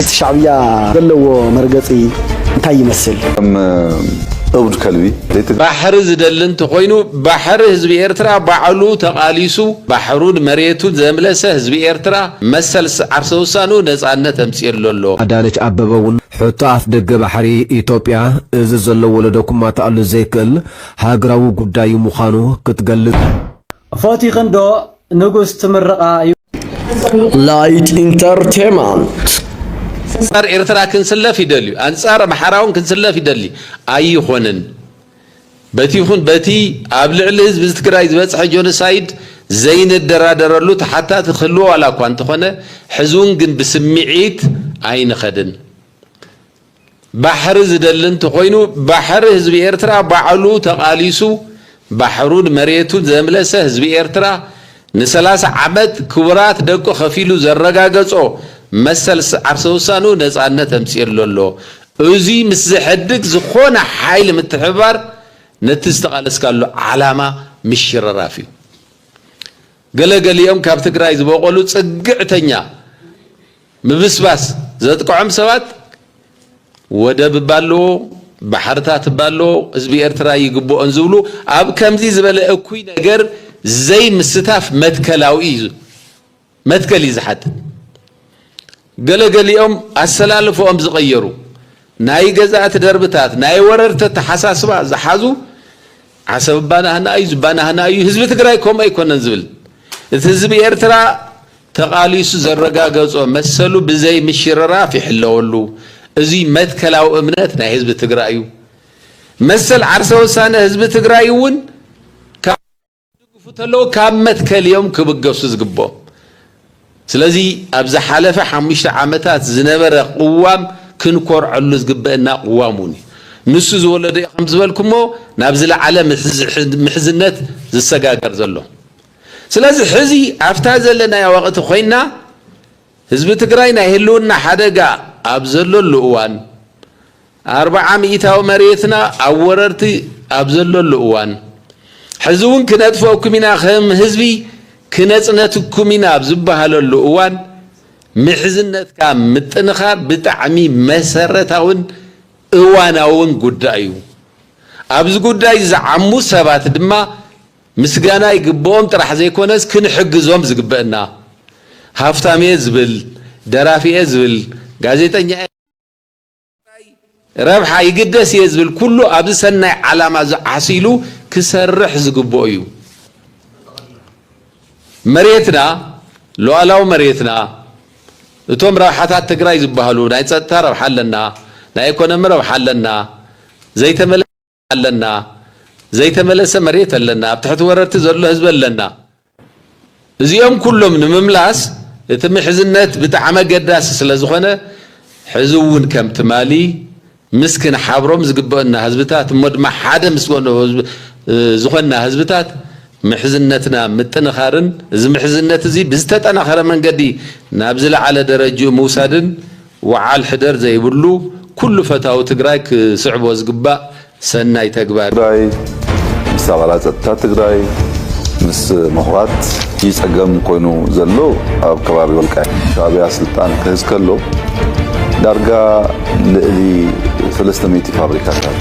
መንግስቲ ሻዕብያ ዘለዎ መርገጺ እንታይ ይመስል? ከም እብድ ከልቢ ዘይትግ ባሕሪ ዝደሊ እንተኾይኑ ባሕሪ ህዝቢ ኤርትራ ባዕሉ ተቓሊሱ ባሕሩን መሬቱን ዘምለሰ ህዝቢ ኤርትራ መሰል ዓርሰ ውሳንኡ ነጻነት ኣምጺእሉ ኣሎ። ኣዳነች ኣበበ ውን ሕቶ ኣፍ ደገ ባሕሪ ኢትዮጵያ እዚ ዘሎ ወለዶ ክማታኣሉ ዘይክእል ሃገራዊ ጉዳይ ሙኻኑ ክትገልጽ፣ ፎቲኽን ዶ ንጉስ ትምርቓ ዩ። ላይት ኢንተርቴማንት ኣንጻር ኤርትራ ክንስለፍ ይደልዩ ኣንጻር ኣምሓራውን ክንስለፍ ይደሊ ኣይኾንን በቲ ይኹን በቲ ኣብ ልዕሊ ህዝቢ ትግራይ ዝበጽሐ ጆኖሳይድ ዘይንደራደረሉ ተሓታቲ ክህልዎ ዋላ እኳ እንተኾነ ሕዝውን ግን ብስምዒት ኣይንኸድን ባሕሪ ዝደሊ እንተኾይኑ ባሕሪ ህዝቢ ኤርትራ ባዕሉ ተቓሊሱ ባሕሩን መሬቱን ዘምለሰ ህዝቢ ኤርትራ ንሰላሳ ዓመት ክቡራት ደቁ ከፊሉ ዘረጋገጾ መሰል ዓርሰ ውሳንኡ ነጻነት ኣምጺእሉ ኣሎ። እዙይ ምስ ዘሕድግ ዝኾነ ሓይሊ ምትሕብባር ነቲ ዝተቓለስካሉ ዓላማ ምሽርራፍ እዩ። ገለ ገሊኦም ካብ ትግራይ ዝበቖሉ ጽግዕተኛ፣ ምብስባስ ዘጥቅዖም ሰባት ወደብ እባ ኣለዎ፣ ባሕርታት እባ ኣለዎ፣ ህዝቢ ኤርትራ ይግብኦን ዝብሉ ኣብ ከምዚ ዝበለ እኩይ ነገር ዘይምስታፍ መትከላዊ እዩ መትከል እዩ ዝሓትት። ገለ ገሊኦም ኣሰላልፈኦም ዝቐየሩ ናይ ገዛእቲ ደርብታት ናይ ወረርቲ ኣተሓሳስባ ዝሓዙ ዓሰብ ባናህና እዩ ዝባናህና እዩ ህዝቢ ትግራይ ከምኡ ኣይኮነን ዝብል እቲ ህዝቢ ኤርትራ ተቓሊሱ ዘረጋገጾ መሰሉ ብዘይ ምሽርራፍ ይሕለወሉ። እዙይ መትከላዊ እምነት ናይ ህዝቢ ትግራይ እዩ። መሰል ዓርሰ ውሳነ ህዝቢ ትግራይ እውን ካብ ዝድግፉ እንተለዉ ካብ መትከል እዮም ክብገሱ ዝግብኦም። ስለዚ ኣብ ዝሓለፈ ሓሙሽተ ዓመታት ዝነበረ ቅዋም ክንኮርዐሉ ዝግበእና ቅዋም እውን እዩ። ንሱ ዝወለዶ እዩ ከምዝበልኩሞ ናብ ዝለዓለ ምሕዝነት ዝሰጋገር ዘሎ። ስለዚ ሕዚ ኣብታ ዘለናያ ወቕቲ ኮይና ህዝቢ ትግራይ ናይ ህልውና ሓደጋ ኣብ ዘለሉ እዋን፣ ኣርብዓ ሚኢታዊ መሬትና ኣብ ወረርቲ ኣብ ዘለሉ እዋን፣ ሕዚ እውን ክነጥፈኩም ኢና ከም ህዝቢ ክነፅነትኩም ኢና ኣብ ዝበሃለሉ እዋን ምሕዝነትካ ምጥንኻር ብጣዕሚ መሰረታውን እዋናውን ጉዳይ እዩ። ኣብዚ ጉዳይ ዝዓሙ ሰባት ድማ ምስጋና ይግብኦም ጥራሕ ዘይኮነስ ክንሕግዞም ዝግበእና ሃፍታምየ ዝብል ደራፊየ ዝብል ጋዜጠኛየ ዝብል ንትግራይ ረብሓ ይግደስ እየ ዝብል ኩሉ ኣብዚ ሰናይ ዓላማ እዚ ዓሲሉ ክሰርሕ ዝግበኦ እዩ መሬትና ሉኣላዊ መሬትና እቶም ረብሓታት ትግራይ ዝባሃሉ ናይ ፀጥታ ረብሓ ኣለና ናይ ኢኮኖሚ ረብሓ ኣለና ዘይተመለሰ ኣለና ዘይተመለሰ መሬት ኣለና ኣብ ትሕቲ ወረርቲ ዘሎ ህዝቢ ኣለና እዚኦም ኩሎም ንምምላስ እቲ ምሕዝነት ብጣዕሚ ኣገዳሲ ስለ ዝኾነ ሕዚ እውን ከም ትማሊ ምስ ክንሓብሮም ዝግበአና ህዝብታት እሞ ድማ ሓደ ምስ ዝኾንና ህዝብታት ምሕዝነትና ምጥንኻርን እዚ ምሕዝነት እዚ ብዝተጠናኸረ መንገዲ ናብ ዝለዓለ ደረጅኡ ምውሳድን ወዓል ሕደር ዘይብሉ ኩሉ ፈታዊ ትግራይ ክስዕቦ ዝግባእ ሰናይ ተግባር እዩ። ጉዳይ ምስ ኣባላት ፀጥታ ትግራይ ምስ ምሁራት እዩ ፀገም ኮይኑ ዘሎ ኣብ ከባቢ ወልቃይት። ሻዕቢያ ስልጣን ክህዝ ከሎ ዳርጋ ልእሊ ሰለስተ ሚእቲ ፋብሪካታት።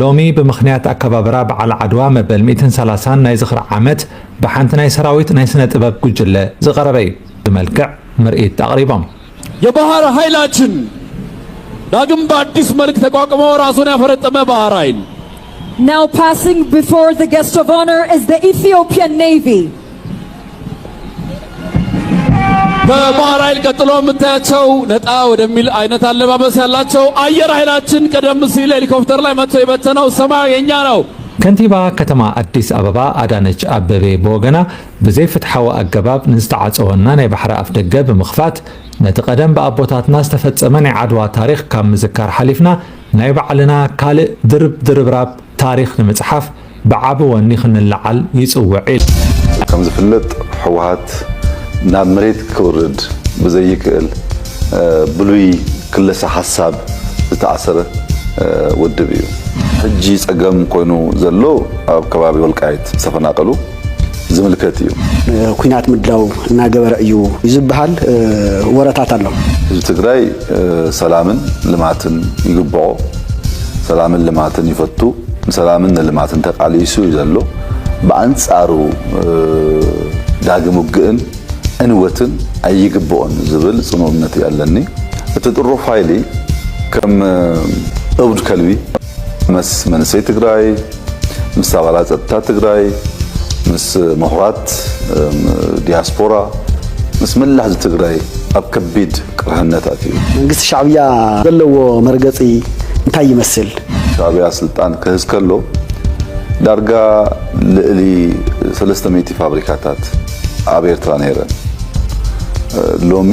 ሎሚ ብምኽንያት ኣከባብራ በዓል ዓድዋ መበል ሚእትን ሰላሳን ናይ ዝኽሪ ዓመት ብሓንቲ ናይ ሰራዊት ናይ ስነ ጥበብ ጉጅለ ዝቐረበ እዩ። ብመልክዕ ምርኢት ኣቕሪቦም። የባህር ሀይላችን ዳግም በአዲስ መልክ ተቋቁሞ ራሱን ያፈረጠመ ባህር ሀይል Now passing before the guest of honor is the Ethiopian Navy. በባህር ኃይል ቀጥሎ የምታያቸው ነጣ ወደሚል አይነት አለባበስ ያላቸው አየር ኃይላችን ቀደም ሲል ሄሊኮፕተር ላይ መጥቶ የበተነው ሰማያዊ የኛ ነው። ከንቲባ ከተማ ኣዲስ ኣበባ ኣዳነች ኣበቤ ብወገና ብዘይ ፍትሓዊ ኣገባብ ንዝተዓፀወና ናይ ባሕሪ ኣፍ ደገ ብምኽፋት ነቲ ቀደም ብኣቦታትና ዝተፈፀመ ናይ ዓድዋ ታሪክ ካብ ምዝካር ሓሊፍና ናይ ባዕልና ካልእ ድርብ ድርብራብ ታሪክ ንምፅሓፍ ብዓቢ ወኒ ክንለዓል ይጽውዕ ኢላ። ከምዝፍለጥ ህወሓት ናብ መሬት ክውርድ ብዘይክእል ብሉይ ክለሳ ሓሳብ ዝተኣሰረ ውድብ እዩ። ሕጂ ጸገም ኮይኑ ዘሎ ኣብ ከባቢ ወልቃይት ዝተፈናቀሉ፣ ዝምልከት እዩ። ንኩናት ምድላው እናገበረ እዩ ዝበሃል ወረታት ኣሎ። ህዝቢ ትግራይ ሰላምን ልማትን ይግበኦ። ሰላምን ልማትን ይፈቱ። ንሰላምን ንልማትን ተቃሊሱ እዩ ዘሎ። ብኣንፃሩ ዳግም ውግእን ዕንወትን ኣይግበኦን ዝብል ፅኑዕ እምነት እዩ ኣለኒ። እቲ ጥሩፍ ሃይሊ ከም እብድ ከልቢ። ምስ መንእሰይ ትግራይ፣ ምስ ኣባላት ፀጥታ ትግራይ፣ ምስ ምሁራት ዲያስፖራ፣ ምስ መላእ ህዝቢ ትግራይ ኣብ ከቢድ ቅርሕነት ኣትዩ። መንግስቲ ሻዕብያ ዘለዎ መርገፂ እንታይ ይመስል? ሻዕብያ ስልጣን ክህዝ ከሎ ዳርጋ ልእሊ ሰለስተ ሚእቲ ፋብሪካታት ኣብ ኤርትራ ነይረን። ሎሚ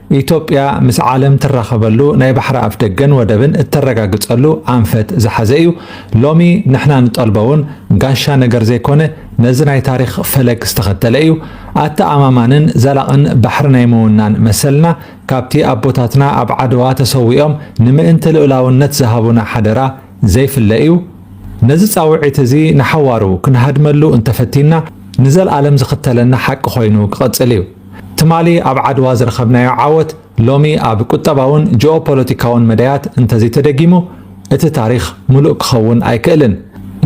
ኢትዮጵያ ምስ ዓለም ትራኸበሉ ናይ ባሕሪ ኣፍደገን ወደብን እተረጋግፀሉ ኣንፈት ዝሓዘ እዩ። ሎሚ ንሕና ንጠልቦ እውን ጋሻ ነገር ዘይኮነ ነዚ ናይ ታሪኽ ፈለግ ዝተኸተለ እዩ። ኣተኣማማንን ዘላቕን ባሕሪ ናይ ምውናን መሰልና ካብቲ ኣቦታትና ኣብ ዓድዋ ተሰዊኦም ንምእንቲ ልኡላውነት ዝሃቡና ሓደራ ዘይፍለ እዩ። ነዚ ፃውዒት እዚ ንሓዋሩ ክንሃድመሉ እንተፈቲንና ንዘልኣለም ዝኽተለና ሓቂ ኮይኑ ክቕፅል እዩ። ትማሊ ኣብ ዓድዋ ዝረኸብናዮ ዓወት ሎሚ ኣብ ቁጠባውን ጂኦፖለቲካውን መዳያት እንተዘይተደጊሙ እቲ ታሪኽ ምሉእ ክኸውን ኣይክእልን።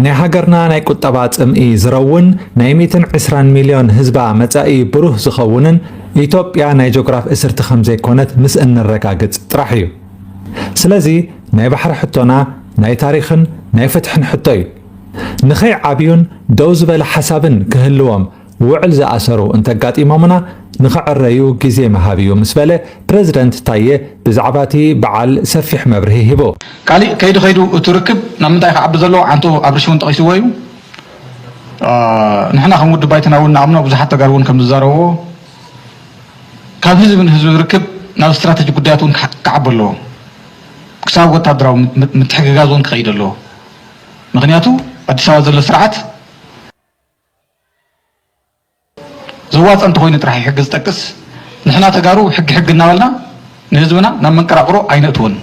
ናይ ሃገርና ናይ ቁጠባ ጽምኢ ዝረውን ናይ ሚእትን ዕስራን ሚልዮን ህዝባ መጻኢ ብሩህ ዝኸውንን ኢትዮጵያ ናይ ጆግራፍ እስርቲ ከምዘይኮነት ምስ እንረጋግጽ ጥራሕ እዩ። ስለዚ ናይ ባሕሪ ሕቶና ናይ ታሪኽን ናይ ፍትሕን ሕቶ እዩ። ንኸይዓብዩን ደው ዝበለ ሓሳብን ክህልዎም ውዕል ዝኣሰሩ እንተጋጢሞምና ንኽዕረዩ ግዜ ምሃብ እዩ ምስ በለ ፕረዚደንት ታየ ብዛዕባ እቲ በዓል ሰፊሕ መብርሂ ሂቡ። ካሊእ ከይዱ ከይዱ እቲ ርክብ ናብ ምንታይ ክዓቢ ዘለዎ ዓንቶ ኣብርሽ እውን ጠቒስዎ እዩ። ንሕና ከም ውድብ ባይቶና እውን ንኣምኖ ብዙሓት ተጋሩ እውን ከምዝዛረብዎ ካብ ህዝቢ ንህዝቢ ዝርክብ ናብ ስትራተጂ ጉዳያት እውን ክዓቢ ኣለዎ። ክሳብ ወታደራዊ ምትሕግጋዝ እውን ክኸይድ ኣለዎ። ምኽንያቱ ኣዲስ ኣበባ ዘሎ ስርዓት ዘዋፀ እንተኾይኑ ጥራሕ እዩ ሕጊ ዝጠቅስ። ንሕና ተጋሩ ሕጊ ሕጊ እናበልና ንህዝብና ናብ መንቀራቕሮ ኣይነእትዎን።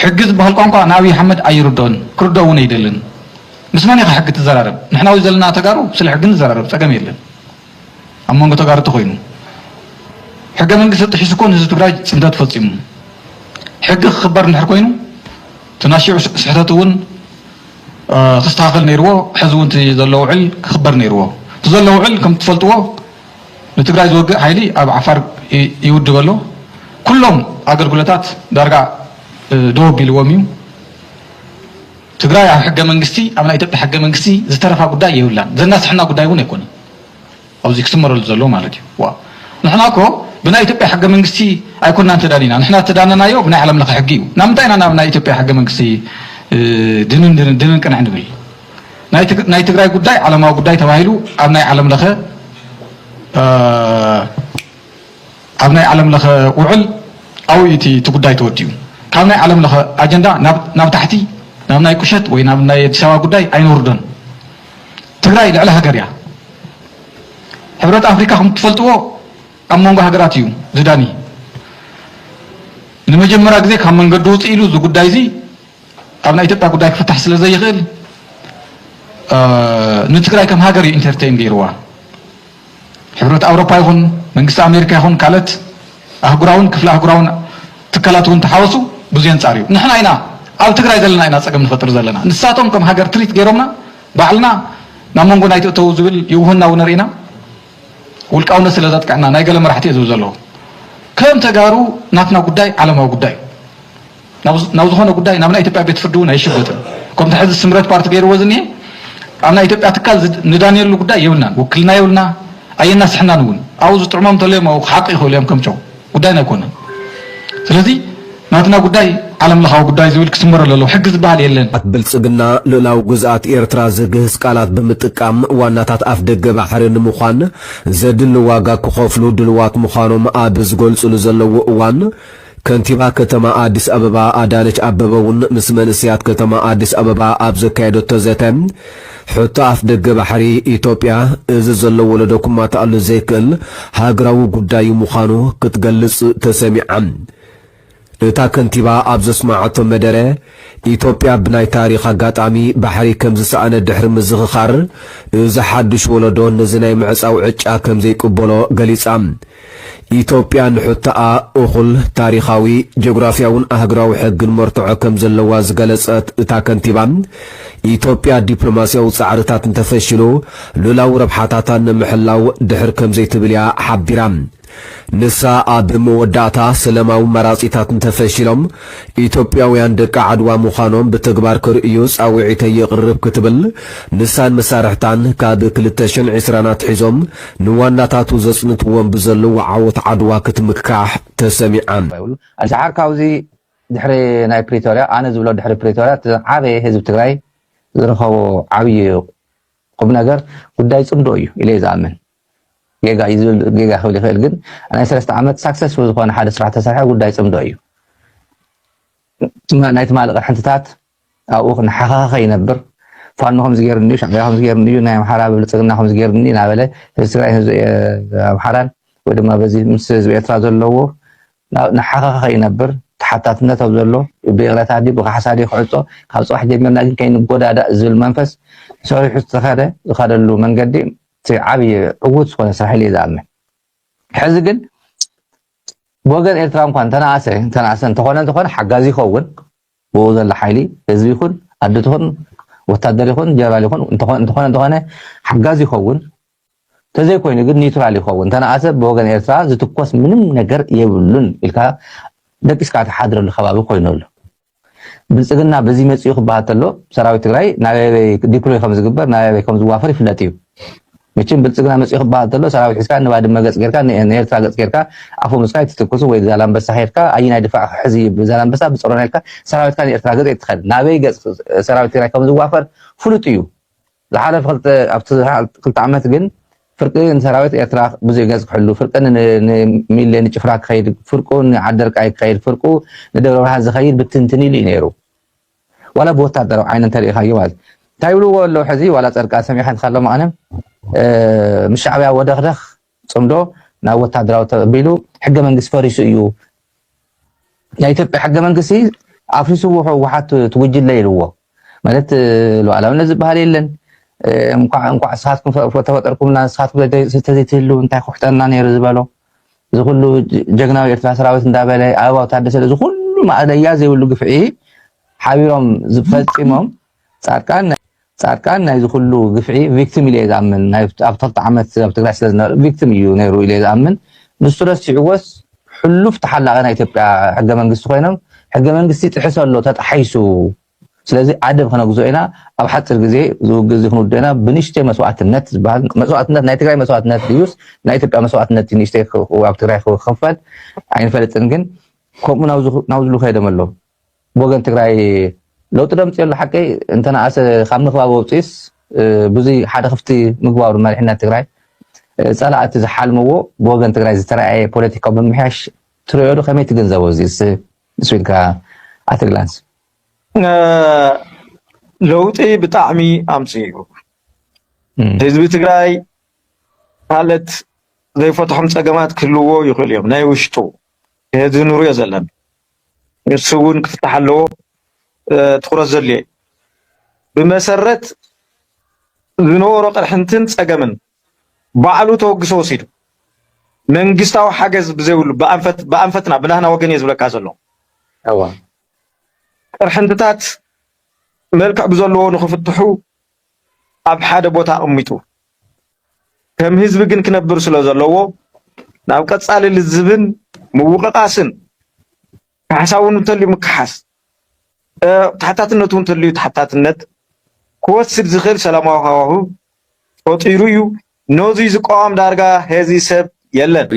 ሕጊ ዝበሃል ቋንቋ ንኣብይ ሓመድ ኣይርድኦን ክርድኦ እውን ኣይደልን። ምስ መን ኢኻ ሕጊ ትዘራረብ? ንሕና ወይ ዘለና ተጋሩ ስለ ሕጊ ንዘራረብ ፀገም የለን። ኣብ መንጎ ተጋሩ እንተኾይኑ ሕገ መንግስቲ ጥሒሱ እኮ ንህዝቢ ትግራይ ፅንተት ፈፂሙ። ሕጊ ክኽበር እንድሕር ኮይኑ እቲ ናሽዑ ስሕተት እውን ክስተኻኸል ነይርዎ ሐዚ እውን እቲ ዘሎ ውዕል ክኽበር ነይርዎ እቲ ዘሎ ውዕል ከም ትፈልጥዎ ንትግራይ ዝወግእ ሓይሊ ኣብ ዓፋር ይውድብ ኣሎ ኩሎም ኣገልግሎታት ዳርጋ ደው ኣቢልዎም እዩ ትግራይ ኣብ ሕገ መንግስቲ ኣብ ናይ ኢትዮጵያ ሕገ መንግስቲ ዝተረፋ ጉዳይ የብላን ዘናስሐና ጉዳይ እውን ኣይኮነን ኣዚ ክስመረሉ ዘለዎ ማለት እዩ። ዋእ ንሕና እኮ ብናይ ኢትዮጵያ ሕገ መንግስቲ ኣይኮናን ተዳኒና ንሕና ዝተዳነናዮ ብናይ ዓለም ለኸ ሕጊ እዩ ናምንታይ ኢና ናብ ናይ ኢትዮጵያ ሕገ መንግስቲ ድንን ድንን ድንን ቅንዕ ንብል ናይ ትግራይ ጉዳይ ዓለማዊ ጉዳይ ተባሂሉ ኣብ ናይ ዓለም ለኸ ኣብ ናይ ዓለም ለኸ ውዕል ኣብኡ እዩ እቲ ጉዳይ ተወዲኡ ካብ ናይ ዓለም ለኸ ኣጀንዳ ናብ ታሕቲ ናብ ናይ ቁሸት ወይ ናብ ናይ ኣዲስ ኣበባ ጉዳይ ኣይነውርዶን ትግራይ ልዕሊ ሃገር እያ። ሕብረት ኣፍሪካ ከም እትፈልጥዎ ኣብ መንጎ ሃገራት እዩ ዝዳኒ። ንመጀመርያ ግዜ ካብ መንገዲ ውፅእ ኢሉ እዚ ጉዳይ እዚ ኣብ ናይ ኢትዮጵያ ጉዳይ ክፍታሕ ስለ ዘይኽእል ንትግራይ ከም ሃገር እዩ ኢንተርቴይን ገይርዋ። ሕብረት ኣውሮፓ ይኹን መንግስቲ ኣሜሪካ ይኹን ካልኦት ኣህጉራውን ክፍለ ኣህጉራውን ትካላት እውን ተሓወሱ ብዙይ ኣንጻር እዩ። ንሕና ኢና ኣብ ትግራይ ዘለና ኢና ጸገም ንፈጥር ዘለና። ንሳቶም ከም ሃገር ትሪት ገይሮምና ባዕልና ናብ መንጎና ኣይትእተዉ ዝብል ይውህና ውነር ኢና። ውልቃውነት ስለ ዘጥቀዐና ናይ ገለ መራሕቲ እየ ዝብል ዘለኹ። ከም ተጋሩ ናትና ጉዳይ ዓለማዊ ጉዳይ እዩ። ናብ ዝኾነ ጉዳይ ናብ ናይ ኢትዮጵያ ቤት ፍርዲ እውን ኣይሽጎጥን። ከምቲ ሕዚ ስምረት ፓርቲ ገይርዎ ዝኒሀ ኣብ ናይ ኢትዮጵያ ትካል ንዳንየሉ ጉዳይ የብልናን፣ ውክልና የብልና ኣየናስሐናን እውን። ኣብኡ ዝጥዕሞም እንተልዮም ኣብኡ ክሓቁ ይኽእሉ እዮም ከም ጨው፣ ጉዳይና ኣይኮነን። ስለዚ ናትና ጉዳይ ዓለም ለኻዊ ጉዳይ ዝብል ክስመረሉ ኣለዎ፣ ሕጊ ዝበሃል የለን። ኣቲ ብልጽግና ሉእላዊ ግዝኣት ኤርትራ ዝግህስ ቃላት ብምጥቃም ዋናታት ኣፍደገ ባሕሪ ንምዃን ዘድሊ ዋጋ ክኸፍሉ ድልዋት ምዃኖም ኣብ ዝገልጽሉ ዘለዉ እዋን፣ ከንቲባ ከተማ ኣዲስ ኣበባ ኣዳነች ኣበበ እውን ምስ መንእሰያት ከተማ ኣዲስ ኣበባ ኣብ ዘካየደቶ ዘተ ሕቶ ኣፍ ደገ ባሕሪ ኢትዮጵያ እዚ ዘሎ ወለዶ ክማታኣሉ ዘይክእል ሃገራዊ ጉዳይ ምዃኑ ክትገልፅ ተሰሚዓ። እታ ከንቲባ ኣብ ዘስመዓቶ መደረ ኢትዮጵያ ብናይ ታሪኽ ኣጋጣሚ ባሕሪ ከምዝሰኣነ ድሕሪ ምዝኽኻር እዚ ሓዱሽ ወለዶ ነዚ ናይ ምዕፃው ዕጫ ከምዘይቅበሎ ገሊፃ። ኢትዮጵያ ንሕቶኣ እኹል ታሪኻዊ፣ ጂኦግራፍያውን ኣህግራዊ ሕግን መርትዖ ከም ዘለዋ ዝገለጸት እታ ከንቲባ፣ ኢትዮጵያ ዲፕሎማስያዊ ጻዕርታት እንተፈሺሉ ሉላዊ ረብሓታታ ንምሕላው ድሕር ከም ዘይትብል'ያ ሓቢራ። ንሳ ኣብ መወዳእታ፣ ሰለማዊ መራጺታት እንተፈሺሎም፣ ኢትዮጵያውያን ደቂ ዓድዋ ምዃኖም ብተግባር ክርእዩ ጻውዒተይ የቕርብ ክትብል ንሳን መሳርሕታን ካብ ክልተ ሽሕን ዕስራን ኣትሒዞም ንዋናታቱ ዘጽንትዎም ብዘለዉ ዓወት ዓድዋ ክትምካሕ ተሰሚዓ። ይብሉ ኣዚ ሓር ካብዚ ድሕሪ ናይ ፕሪቶርያ ኣነ ዝብሎ ድሕሪ ፕሪቶርያ እቲ ዝዓበየ ህዝቢ ትግራይ ዝረኸቦ ዓብይ ቁምነገር ጉዳይ ፅምዶ እዩ ኢለ እየ ዝኣምን። ጌጋ እዩ ዝብል ጌጋ ክብል ይኽእል ግን ናይ ሰለስተ ዓመት ሳክሰስፉል ዝኾነ ሓደ ስራሕ ተሰርሐ ጉዳይ ጽምዶ እዩ ናይ ትማሊ ቅርሕንትታት ኣብኡ ክነሓኻኸ ይነብር ፋኖ ከምዚ ገይሩኒ እዩ ሻዕቢያ ከምዚ ገይሩኒ እዩ ናይ ኣምሓራ ብልፅግና ከምዚ ገይሩኒ እናበለ ህዝቢ ትግራይ ህዝቢ ኣምሓራን ወይ ድማ በዚ ምስ ህዝቢ ኤርትራ ዘለዎ ንሓኻኸ ይነብር ተሓታትነት ኣብ ዘሎ ብይቕረታ ዲ ብካሕሳ ዲ ክዕፆ ካብ ፅባሕ ጀሚርና ግን ከይንጎዳዳእ ዝብል መንፈስ ሰሪሑ ዝተኸደ ዝኸደሉ መንገዲ እቲ ዓብይ ዕውት ዝኾነ ስራሕ ኢለ እየ ዝኣምን። ሕዚ ግን ብወገን ኤርትራ እንኳን ተነኣሰ ተነኣሰ እንተኾነ እንተኾነ ሓጋዚ ይኸውን ብኡ ዘሎ ሓይሊ ህዝቢ ይኹን ኣዲ ትኹን ወታደር ይኹን ጀነራል ይኹን እንተኾነ እንተኾነ እንተኾነ ሓጋዚ ይኸውን ተዘይኮይኑ ግን ኒውትራል ይኸውን ተነኣሰ ብወገን ኤርትራ ዝትኮስ ምንም ነገር የብሉን ኢልካ ደቂስካ ትሓድረሉ ከባቢ ኮይኑ ኣሎ ብልፅግና በዙይ መፂኡ ክበሃል ተሎ ሰራዊት ትግራይ ናበይ ዲፕሎይ ከምዝግበር ናበይ ከምዝዋፈር ይፍለጥ እዩ። መቸም ብልፅግና መፂኡ ክበሃል ተሎ ሰራዊት ሒዝካ ንባድመ ገፅ ጌርካ ንኤርትራ ገፅ ጌርካ ኣፈሙዝካ ኣይትትኩሱ ወይ ዛላንበሳ ኬድካ ኣየናይ ድፋዕ ሕዚ ዛላንበሳ ብፆሮና ኢልካ ሰራዊትካ ንኤርትራ ገፅ ኣይትኸድ ናበይ ገፅ ሰራዊት ትግራይ ከምዝዋፈር ፍሉጥ እዩ። ዝሓለፈ ክልተ ኣብቲ ዝሓል ክልተ ዓመት ግን ፍርቂ ንሰራዊት ኤርትራ ብዙሕ ገጽ ክሕሉ፣ ፍርቂ ን ንሚሌ ንጭፍራ ክኸይድ፣ ፍርቁ ንዓደርቃይ ክኸይድ፣ ፍርቁ ንደብረብርሃን ዝኸይድ ብትንትን ኢሉ እዩ ነይሩ። ዋላ ብወታደራዊ ዓይኒ እንተርኢኻዮ ማለት እዩ። እንታይ ይብልዎ ኣለዉ ሕዚ ዋላ ጸድቃን ሰሚዐ እንተሃለኹ መቐለ ምስ ሻዕብያ ወደኽደኽ፣ ጽምዶ ናብ ወታደራዊ ተቢሉ ሕገ መንግስቲ ፈሪሱ እዩ ናይ ኢትዮጵያ ሕገ መንግስቲ ኣፍሪስዎ ህወሓት ትጉጅለ ኢልዎ ማለት ሉዓላዊነት ዝበሃል የለን እንኳዕ እንኳዕ ንስኻትኩም ተፈጠርኩምና ንስኻትኩም ተዘይትህልው እንታይ ክውሕጠና ነይሩ ዝበሎ እዚ ኩሉ ጀግናዊ ኤርትራ ሰራዊት እንዳበለ ኣበባው ታደሰ እዚ ኩሉ ማእለያ ዘይብሉ ግፍዒ ሓቢሮም ዝፈፂሞም ፃድቃን ፃድቃን ናይዚ ኩሉ ግፍዒ ቪክቲም ኢለ እየ ዝኣምን ናይ ኣብቲ ክልተ ዓመት ኣብ ትግራይ ስለ ዝነበረ ቪክቲም እዩ ነይሩ ኢለ እየ ዝኣምን ንሱ ረሲዕዎስ ሕሉፍ ተሓላቒ ናይ ኢትዮጵያ ሕገ መንግስቲ ኮይኖም ሕገ መንግስቲ ጥሕሰ ኣሎ ተጣሒሱ ስለዚ ኣደብ ክነግዞ ኢና ኣብ ሓፂር ግዜ ዝውግእ እዚ ክንውድእ ኢና ብንእሽተይ መስዋእትነት ዝበሃል መስዋእትነት ናይ ትግራይ መስዋእትነት ድዩስ ናይ ኢትዮጵያ መስዋእትነት እዩ ንእሽተይ ኣብ ትግራይ ክኸፈል ኣይንፈልጥን ግን ከምኡ ናብዚ ናብዝሉ ከይዶም ኣለዉ ብወገን ትግራይ ለውጢ ደምፅዮ ኣሎ ሓቂ እንተነኣሰ ካብ ምክባብ ወብፅዩስ ብዙይ ሓደ ክፍቲ ምግባሩ መሪሕነት ትግራይ ፀላእቲ ዝሓልምዎ ብወገን ትግራይ ዝተረኣየ ፖለቲካዊ ምምሕያሽ ትርእዮ ዶ ከመይ ትግንዘቦ እዚስ ስቢልካ ኣትግላንስ ለውጢ ብጣዕሚ ኣምፅኡ ህዝቢ ትግራይ ማለት ዘይፈትሖም ፀገማት ክህልዎ ይኽእሉ እዮም ናይ ውሽጡ እዚ ንሪኦ ዘለና ንሱ እውን ክፍታሕ ኣለዎ ትኩረት ዘድልዮ እዩ ብመሰረት ዝነበሮ ቅርሕንትን ፀገምን ባዕሉ ተወግሶ ወሲዱ መንግስታዊ ሓገዝ ብዘይብሉ ብኣንፈትና ብናህና ወገን እየ ዝብለካ ዘሎ ቅርሕንትታት መልክዕ ብዘለዎ ንክፍትሑ ኣብ ሓደ ቦታ ኣቕሚጡ ከም ህዝቢ ግን ክነብር ስለዘለዎ ናብ ቀጻሊ ልዝብን ምውቕቓስን ካሕሳ እውን እንተልዩ ምክሓስ ተሓታትነት እውን እንተልዩ ተሓታትነት ክወስድ ዝኽእል ሰላማዊ ሃዋህው ፈጢሩ እዩ። ነዙይ ዝቃወም ዳርጋ ሄዚ ሰብ የለን።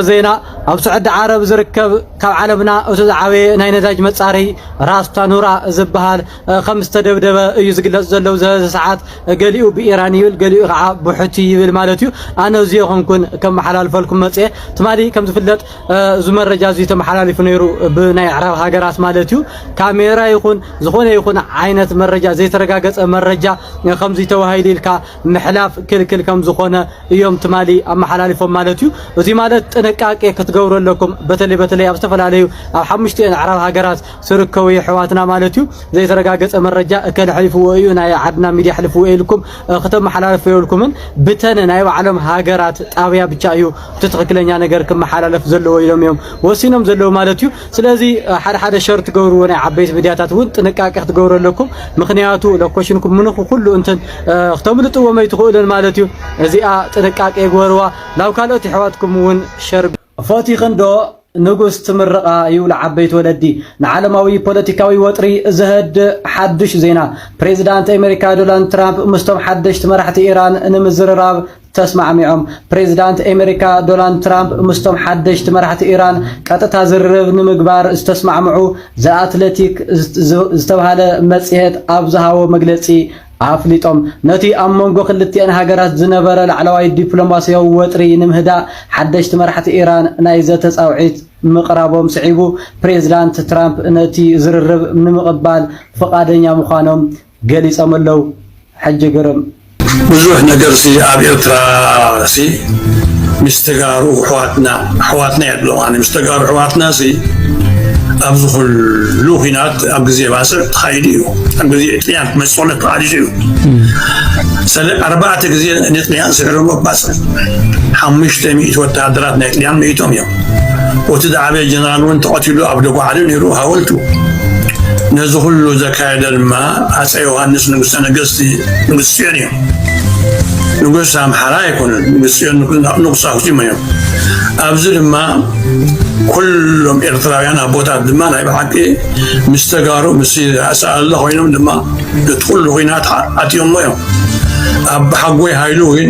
ዜና ኣብ ስዑዲ ዓረብ ዝርከብ ካብ ዓለምና እቱ ዝዓበየ ናይ ነዳጅ መፃረይ ራስ ታኑራ ዝበሃል ከም ዝተደብደበ እዩ ዝግለፅ ዘሎ ኣብዚ ሕዚ ሰዓት ገሊኡ ብኢራን ይብል ገሊኡ ከዓ ብሑቲ ይብል ማለት እዩ ኣነ እዙ የኾንኩን ከመሓላልፈልኩም መፅየ ትማሊ ከም ዝፍለጥ እዚ መረጃ እዚ ተመሓላሊፉ ነይሩ ብናይ ኣዕራብ ሃገራት ማለት እዩ ካሜራ ይኹን ዝኾነ ይኹን ዓይነት መረጃ ዘይተረጋገፀ መረጃ ከምዚ ተባሂሉ ኢልካ ምሕላፍ ክልክል ከም ዝኾነ እዮም ትማሊ ኣመሓላሊፎም ማለት እዩ። እዚ ማለት ጥንቃቄ ክትገብሩ ኣለኩም በተለይ በተለይ ኣብ ዝተፈላለዩ ኣብ ሓሙሽቲኤን ኣዕራብ ሃገራት ዝርከቡ የሕዋትና ማለት እዩ። ዘይተረጋገጸ መረጃ እከለ ሕሊፍዎ እዩ ናይ ዓድና ሚድያ ሕልፍዎ ኢልኩም ክተመሓላለፉ የብልኩምን። ብተን ናይ ባዕሎም ሃገራት ጣብያ ብቻ እዩ እቲ ትኽክለኛ ነገር ክመሓላለፍ ዘለዎ ኢሎም እዮም ወሲኖም ዘለዉ ማለት እዩ። ስለዚ ሓደ ሓደ ሸር ትገብርዎ ናይ ዓበይቲ ሚድያታት እውን ጥንቃቄ ክትገብሩ ኣለኩም። ምክንያቱ ሎኮሽንኩም ምንኹ ኩሉ እንትን ክተምልጥዎም ኣይትኽእሉን ማለት እዩ። እዚኣ ጥንቃቄ ግበርዋ። ናብ ካልኦት የሕዋትኩም እውን ሸር ፈቲኽን ዶ ንጉስ ትምርቓ ይብሉ ዓበይቲ ወለዲ። ንዓለማዊ ፖለቲካዊ ወጥሪ ዘህድእ ሓዱሽ ዜና፣ ፕሬዝዳንት ኣሜሪካ ዶናልድ ትራምፕ ምስቶም ሓደሽቲ መራሕቲ ኢራን ንምዝርራብ ተስማዕሚዖም። ፕሬዝዳንት ኤመሪካ ዶናልድ ትራምፕ ምስቶም ሓደሽቲ መራሕቲ ኢራን ቀጥታ ዝርርብ ንምግባር ዝተስማዕምዑ The Athletic ዝተብሃለ መጽሔት ኣብ ዝሃቦ መግለጺ ኣፍሊጦም። ነቲ ኣብ መንጎ ክልቲኤን ሃገራት ዝነበረ ላዕለዋይ ዲፕሎማሲያዊ ወጥሪ ንምህዳእ ሓደሽቲ መራሕቲ ኢራን ናይ ዘተ ጻውዒት ምቕራቦም ስዒቡ ፕሬዝዳንት ትራምፕ ነቲ ዝርርብ ንምቕባል ፍቓደኛ ምዃኖም ገሊጾም ኣለው ሕጂ ግርም። ብዙሕ ነገርሲ ኣብ ኤርትራሲ ምስ ተጋሩ ኣሕዋትና ኣሕዋትና የብሎም ኣነ ምስ ተጋሩ ኣሕዋትናሲ ኣብዚ ኩሉ ኩናት ኣብ ግዜ ባጽዕ ተኻይዱ እዩ ኣብ ግዜ ጥልያን ክመጽኦለ ተቓሊጹ እዩ ሰለ ኣርባዕተ ግዜ ንጥልያን ስዕሮሞ ባጽዕ ሓሙሽተ ሚእቲ ወተሃደራት ናይ ጥልያን መይቶም እዮም ወቲ ዝዓበየ ጀነራል እውን ተቐቲሉ ኣብ ደጓዓሊ ነይሩ ሃወልቱ። ነዚ ኩሉ ዘካየደ ድማ ኣፀ ዮሃንስ ንጉሰ ነገስቲ ንጉስ ፅዮን እዮም። ንጉስ ኣምሓራ ኣይኮኑን፣ ንጉስ ፅዮን ንጉስ ኣክሱም እዮም። ኣብዚ ድማ ኩሎም ኤርትራውያን ኣቦታት ድማ ናይ ብሓቂ ምስ ተጋሩ ምስ ኣሰኣለ ኮይኖም ድማ ነቲ ኩሉ ኩናት ኣትዮሞ እዮም። ኣቦሓጎይ ሃይሉ ግን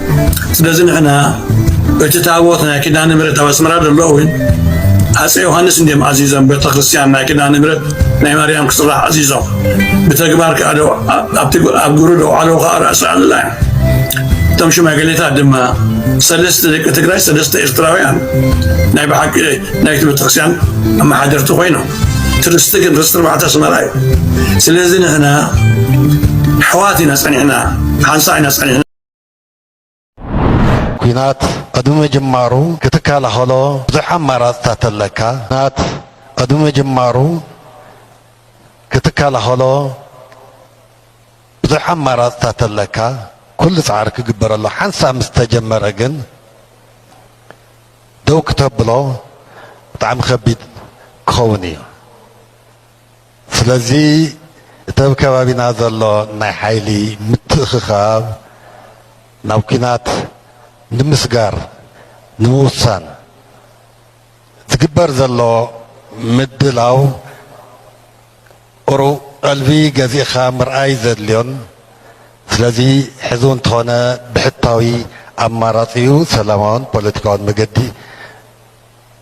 ስለዚ ንሕና እቲ ታቦት ናይ ኪዳነ ምሕረት ኣብ ኣስመራ ዘሎ እውን ኣፄ ዮሃንስ እንዲም ኣዚዞም ቤተ ክርስቲያን ናይ ኪዳነ ምሕረት ናይ ማርያም ክስራሕ ኣዚዞም ብተግባር ከዓ ኣብ ግብሪ ደውዓለዉ ከዓ ርእሲ ኣሉላ እዮም እቶም ሽማግሌታት ድማ ሰለስተ ደቂ ትግራይ ሰለስተ ኤርትራውያን ናይ ብሓቂ ናይቲ ቤተክርስትያን ኣመሓደርቲ ኮይኖም ትርስቲ ግን ርስቲ ኣርባዕተ ኣስመራ እዩ ስለዚ ንሕና ኣሕዋት ኢና ፀኒሕና ሓንሳ ኢና ፀኒሕና ኲናት ቅድሚ ምጅማሩ ክትከላኸሎ ብዙሕ ኣማራፅታት ኣለካ። ኲናት ቅድሚ ምጅማሩ ክትከላኸሎ ብዙሕ ኣማራፅታት ኣለካ። ኩሉ ፃዕሪ ክግበረሉ ሓንሳብ ምስ ተጀመረ ግን ደው ክተብሎ ብጣዕሚ ከቢድ ክኸውን እዩ። ስለዚ እቲ ኣብ ከባቢና ዘሎ ናይ ሓይሊ ምትእኽኻብ ናብ ኲናት ንምስጋር ንምውሳን ዝግበር ዘሎ ምድላው ቁሩብ ቀልቢ ገዚእኻ ምርኣይ ዘድልዮን ስለዚ ሕዚ እውን ተኾነ ብሕታዊ ኣማራፂኡ ሰላማውን ፖለቲካውን መገዲ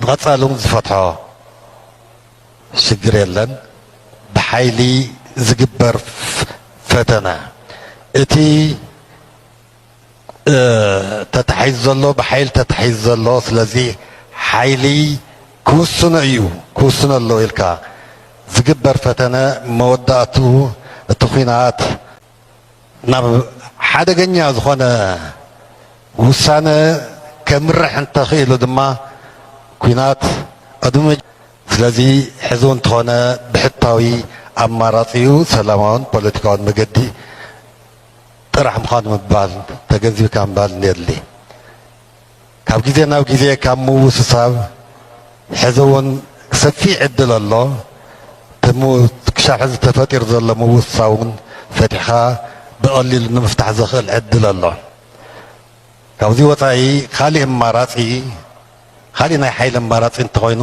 ብቐፃሊ እውን ዝፈትሖ ሽግር የለን። ብሓይሊ ዝግበር ፈተነ እቲ ተታሒዙ ዘሎ ብሓይሊ ተታሒዙ ዘሎ ስለዚ ሓይሊ ክውስኖ እዩ ክውስኖ ኣለዎ ኢልካ ዝግበር ፈተነ መወዳእትኡ እቲ ኩናት ናብ ሓደገኛ ዝኾነ ውሳነ ከምርሕ እንተኽኢሉ ድማ ኩናት ቅድሚ ስለዚ ሕዚ እውን እንተኾነ ብሕታዊ ኣማራፂ እዩ ሰላማውን ፖለቲካውን መገዲ ጥራሕ ምዃኑ ምባል ተገንዚብካ ምባል የድሊ ካብ ግዜ ናብ ግዜ ካብ ምውስሳብ ሕዚ እውን ሰፊሕ ዕድል ኣሎ። እቲ ክሻብ ሕዚ ተፈጢሩ ዘሎ ምውስሳብ እውን ፈቲሕኻ ብቐሊሉ ንምፍታሕ ዘኽእል ዕድል ኣሎ። ካብዚ ወፃኢ ካሊእ ኣማራፂ ካሊእ ናይ ሓይሊ ኣማራፂ እንተኾይኑ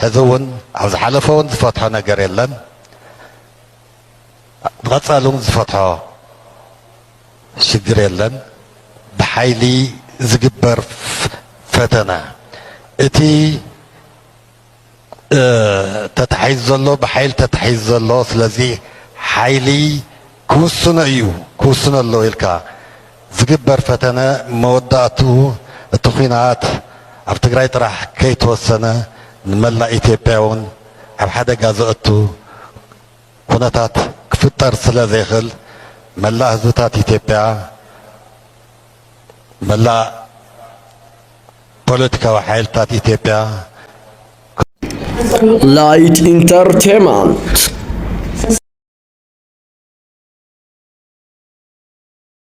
ሕዚ እውን ኣብ ዝሓለፈ እውን ዝፈትሖ ነገር የለን። ንቐፃሊ እውን ዝፈትሖ ሽግር የለን ብሓይሊ ዝግበር ፈተና እቲ ተታሒዙ ዘሎ ብሓይሊ ተታሒዙ ዘሎ ስለዚ ሓይሊ ክውስኖ እዩ ክውስኖ ኣሎ ኢልካ ዝግበር ፈተነ መወዳእትኡ እቲ ኩናት ኣብ ትግራይ ጥራሕ ከይተወሰነ ንመላእ ኢትዮጵያ እውን ኣብ ሓደጋ ዘእቱ ኩነታት ክፍጠር ስለ ዘይክል መላእ ህዝብታት ኢትዮጵያ መላእ ፖለቲካዊ ሓይልታት ኢትዮጵያ Light Entertainment